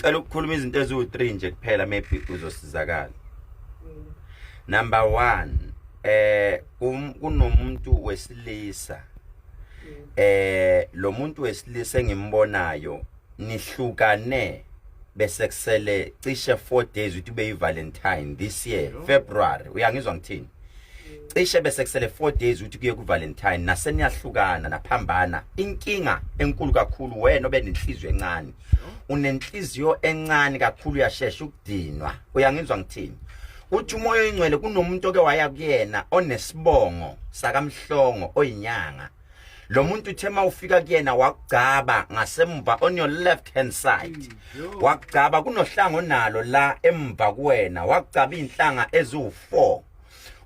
cela ukukhuluma izinto eziwu-3 nje kuphela maybe uzosizakala number 1 eh um, kunomuntu wesilisa eh lo muntu wesilisa engimbonayo nihlukane bese kusele cishe 4 days ukuthi ube yivalentine this year february uyangizwa ngithini cishe bese kusele 4 days ukuthi kuye kuValentine naseniyahlukana naphambana inkinga enkulu kakhulu wena obenenhliziyo encane unenhliziyo encane kakhulu uyashesha ukudinwa uyangizwa ngithini uthi umoya oyingcwele kunomuntu oke waya kuyena onesibongo sakamhlongo oyinyanga lo muntu uthe uma ufika kuyena wakugcaba ngasemva on your left hand side mm, wakugcaba kunohlanga onalo la emva kuwena wakugcaba iy'nhlanga eziwu-four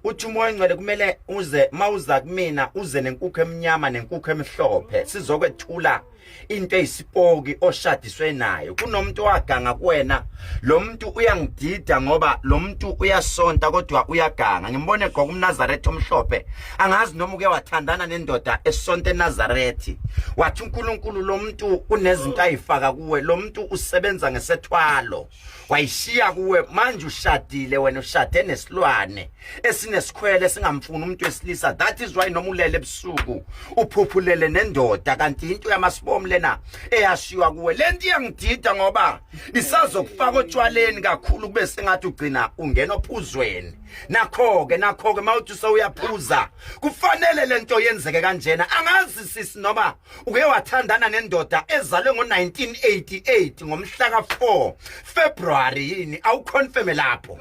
uthi umoya ongcwele kumele uze mawuza kumina uze nenkukhu emnyama nenkukhu emhlophe sizokwethula into eyisipoki oshadiswe nayo kunomuntu owaganga kuwena lo muntu uyangidida ngoba lo muntu uyasonta kodwa uyaganga ngimbone egqoka umnazaretha omhlophe angazi noma uke wathandana nendoda esonta enazarethi wathi unkulunkulu lo muntu unezinto ayifaka kuwe lo muntu usebenza ngesethwalo wayishiya kuwe manje ushadile wena ushade nesilwane esinesikhwele singamfuni umuntu wesilisa that is why noma ulele ebusuku uphuphulele nendoda kanti into yamasibomu lena eyashiwa kuwe lento iyangidida ngoba isazokufaka otshwaleni kakhulu kube sengathi ugcina ungena ophuzweni nakho ke nakho ke mawuthi sewuyaphuza kufanele lento yenzeke kanjena angazi sisi noma uke wathandana nendoda ezalwe ngo-1988 ngomhla ka-4 february yini awuconfirme lapho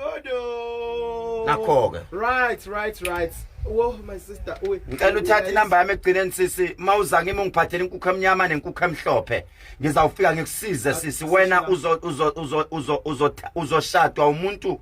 nakho-ke right right right wo my sister uwe ngicela uthathe inamba yami ekugcineni sisi uma uza kimi ungiphathele inkukhu emnyama nenkukhu emhlophe ngizawufika ngikusize sisi wena uzoshadwa umuntu uzo, uzo, uzo, uzo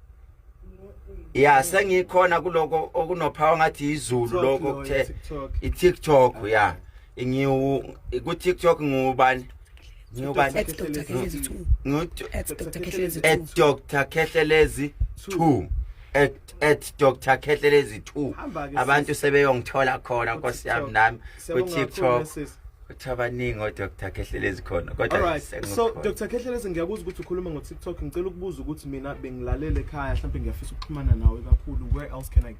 ya sengikhona kuloko okunophawa ngathi izulu lokho kuthe i-tiktok ya ngiwu ku-tiktok ngiwubani ngiwubani at dr khehlelezi two at at dr khehlelezi two abantu sebeyongithola khona nkosi yami nami ku-tiktok ukuthi abaningi odr khehlelezi khona kodwaalt so dr khehlelezi ngiyakuzwa ukuthi ukhuluma ngo-tiktok ngicela ukubuza ukuthi mina bengilalele ekhaya mhlawumpe ngiyafisa ukuxhumana nawe kakhulu where else can i get